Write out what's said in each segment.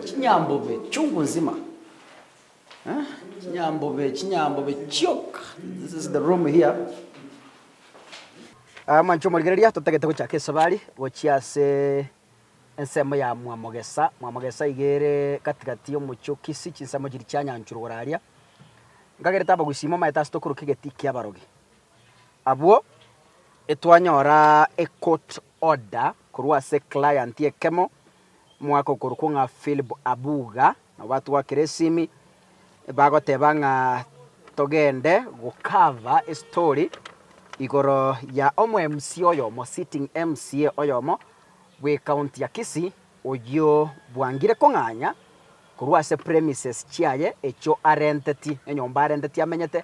Chinyambobe chungu nzima eh chinyambobe chinyambobe chioka this is the room here. Ah, mwanche omorigereria, totagete gochaka esabari gochia ase ensemo ya Mwamogesa. Mwamogesa iga ere gati gati y'omochie o Kisii, chinsemo chiria chianyanchurwa igoro aria. Nkagerete abagusi ime omanyete ase tokorokwa egeti ki'abarogi. Abwo, etwanyora ecourt order korwa ase eclient ekemo omwaka okorokwo ng'a Philip Abuga, nabo batwakire esimi bagoteba ng'a togende gocover estory igoro ya omwMC oyomo, sitting MCA oyomo bw'ecounty ya Kisii, oyio bwangire kong'anya korwa ase premises chiaye echio arentetie, enyomba arentetie amenyete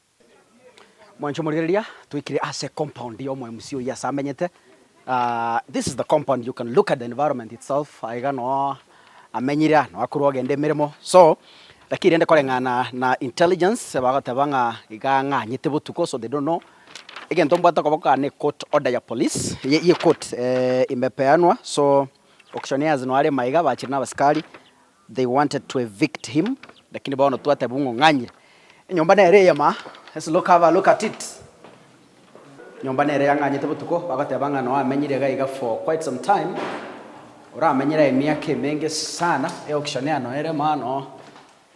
Mwanche omorero eria twaikire ase compound ya omoMCA oyio ase amenyete. This is the compound you can look at the environment itself aiga no amenyire aa no akorwa ogenda emeremo so lakini rende koreng'ana na intelligence bagoteba ng'a iga ang'anyete botuko so they don't know. Egento mbwate okoboko aa ne court order ya police ya ecourt imepeanwa so auctioneers no are maiga bachire na abasikari They wanted to evict him, lakini bono twatebwa ng'o ng'anyire. Enyomba nere eye ma. Let's look have a look at it. Nyomba nere yang'anyete botuko, bagoteba ng'a noa amenyire iga iga for quite some time, oramenyire aye emiaka emenge sana, e auction ano ere ma no.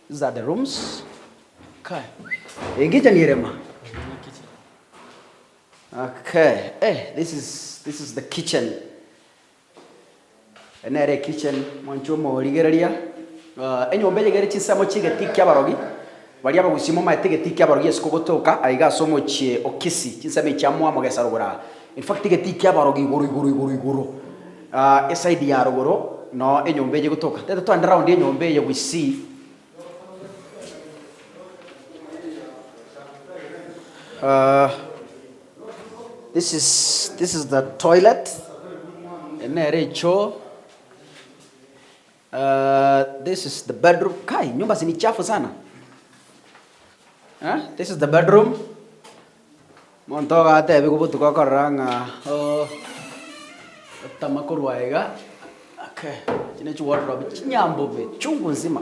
These are the rooms. Okay. Engichani ere ma. Okay. Eh, this is, this is the kitchen. Ere nere ekichen mwancho omorigereria. Enyomba eye egere chinsemo chi'egetii ki'abarogi, baria abagusii momaete egetii ki'abarogi isiko gotoka aiga ase omochie o Kisii, chinsemo echi amo amo gesa rogoro aa. In fact egetii ki'abarogi igoro igoro igoro igoro aa eside ya rogoro noo enyomba eye egotoka. Tete togende round enyomba eye gusii. This is this is the toilet eye nere echoo uh this is the bedroom kai nyumba si ni chafu sana eh this is the bedroom monto ogatebigwa obotuko okorora ng'a oh otama korwa iga okay echi ne chiwodrobe chinyambobe chungu nzima.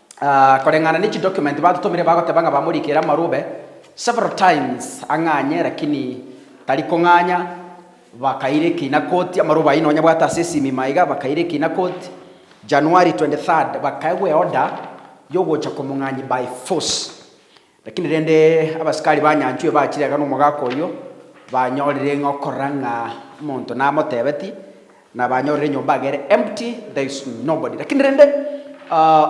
Koreng'ana ne chidocument batutomire bagoteba ng'a bamorikire amarube several times ang'anye lakini tari kong'anya bakaira ekina koti amarube ayio nonya bwate ase esimima iga bakaira ekina koti January 23rd bakaegwa eorder yogocha komong'anyi by force Lakini rende abasikari banyanchwe bachirega nomogaka oyio, banyorire ng'a okorora ng'a omonto namotebetie, na banyorire enyomba agere empty, there is nobody. Lakini rende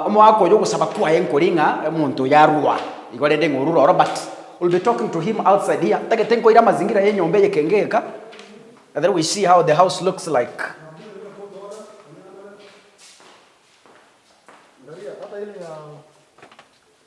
omogaka oyio ogosaba kwaye nkori ng'a omonto oyio arua igo rende ng'a orure ororo but we'll be talking to him outside here, ntagete nkoire amazingira ya enyomba eye ekenge egeka, and then we see how the house looks like.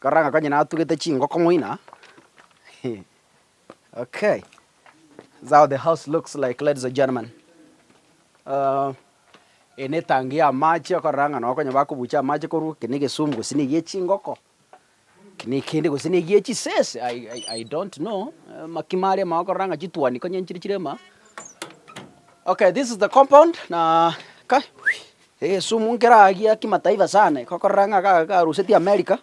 Korora ng'a konyene atugete chingoko moino aa okay this is how the house looks like ladies and gentlemen eye netangi y'amache okorora ng'a nonye bakobucha amache korwa eke negesumu gose niga echingoko. Nekende gose negie chisese I I don't know amaki maria amao korora ng'a chituani konya nchire chire maa. Okay this is the compound na kai egesumu nkera gia kimataifa sana iko korora ng'a ga garuseti America,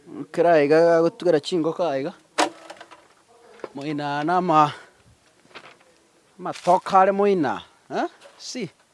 nkera iga gagotugera chingoko aiga iga, moino aya na ama amatoke are moino aa eh see.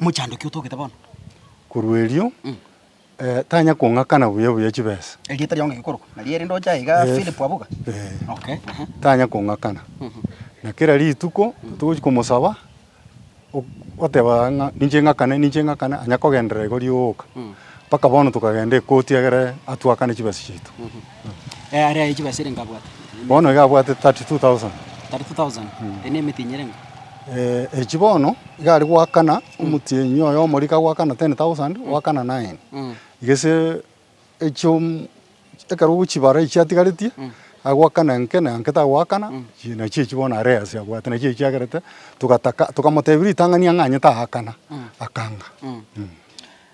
Mochandoki otogete bono. Korwa erio tanya kong'akana buya buya chibesa. Erieta riao ngaki korokwa nario erinde oche aiga Philip Abuga? Okay, ehe. Tanya kong'akana, na kera rituko togochia komosaba o- oteba ng'a ninche ng'akane ninche ng'akane, onye akogenderera igo rigooka. Mpaka bono tokagenda ekoti egere atwakane chibesa chiaito. Ee, are aye chibesa erenge abwate? Bono iga abwate 32,000. 32,000. Eri nemetinya erenge? Ee, echi bono iga are goakana omotienyi oye omoria kagoakana 10,000 goakana naye. Gese echiom ekero ogochibara echi atigaretie agoakana enke na enke tagoakana chii nachio echi bono are ase abwate nachio echiagerete togataka tokamotebia ritang'ani ang'anyete aakana akanga.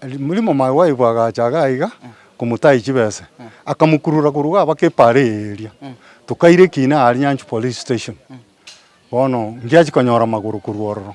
Rimuria momaye bwaibwe agacha iga aiga komotaiyi chibese, akamokurura korwa iga abake epara eye eria. Tokaire Kiina aria Nyanchwa Police Station. Bono ngiachia konyora magoro korwa ororo.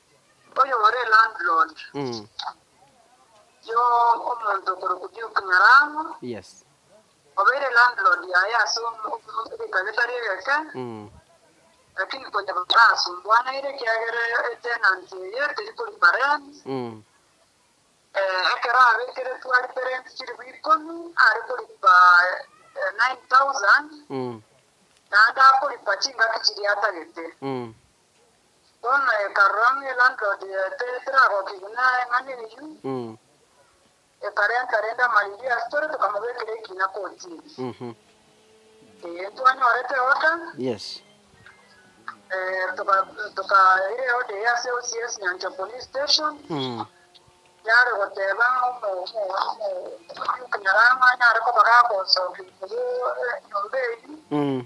Oyore landlord Mm. yo omonto okorokwa Duke Nyarango Yes. obeire landlord yaye ase omo- omo- egeka getari egeke Mm. lakini konya barasumbuanaire ekiagera etenant eye teri koripa rent Mm. eh, ekero abekeretwe aripe rent chiribu ikomi are koripa eh, 9000 Mm. naende akoripa chingaki chiria atagete Mm. Bono ekarora ng'a elandlord yaetee teragokigwe neng'ana eyio, ekarenta rende amariria ase tore tokamobekera ekina kotini. Ee, ntwanyorete order, Yes. eh, toka- tokaire order eye ase OCS Nyanchwa Police Station, yare goteba ng'a omo- omo- omo- omokunyara ng'a nare koba gagosokia igoro enyomba eyio,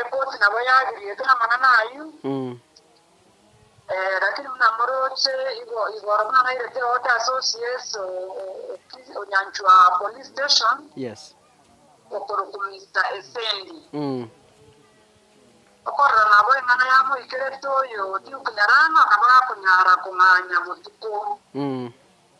Eboti nabo yagiriete namanano ayio, lakini buna moroche igoro buna nairete ogote ase OCS Onyanchwa Police Station okorokwa Mister Esendi. Okorora nabo eng'ana yamoikerete oyo Duke Nyarang'a nabo akonyara kong'anya botuko.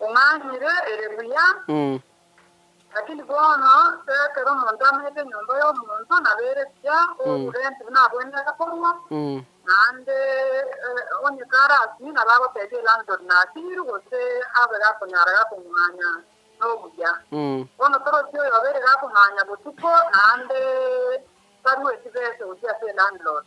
Omanyire ere buya, lakini bono se ekero omonto amanyete enyomba y'omonto, nabeire buya orurenti buna abwenerete korua, naende onye karasimie nabo agotebia elandlord nasiirwe gose abe gakonyara gakong'aanya nobuya. Bono torosie oyobe ere gakong'aanya botuko naende tarue chibesa gochia ase elandlord.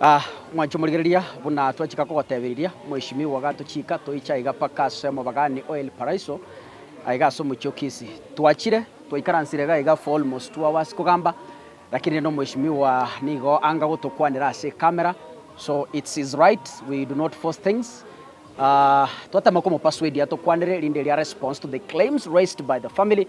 Ah, mwanche omorigereria, buna twachika kogoteberiria, Mweshimiwa gatochiika toiche aiga mpaka ase omobagaani o El Paraiso, aiga ase omochie o Kisi. Twachire, twaikaransire iga iga for almost two hours kogamba, lakini rende Omweshimiwa nigo anga gotokwanera ase ecamera, so it's his right, we do not force things. Ah, twatema komopersuadia atokwanere erinde eria response to the claims raised by the family,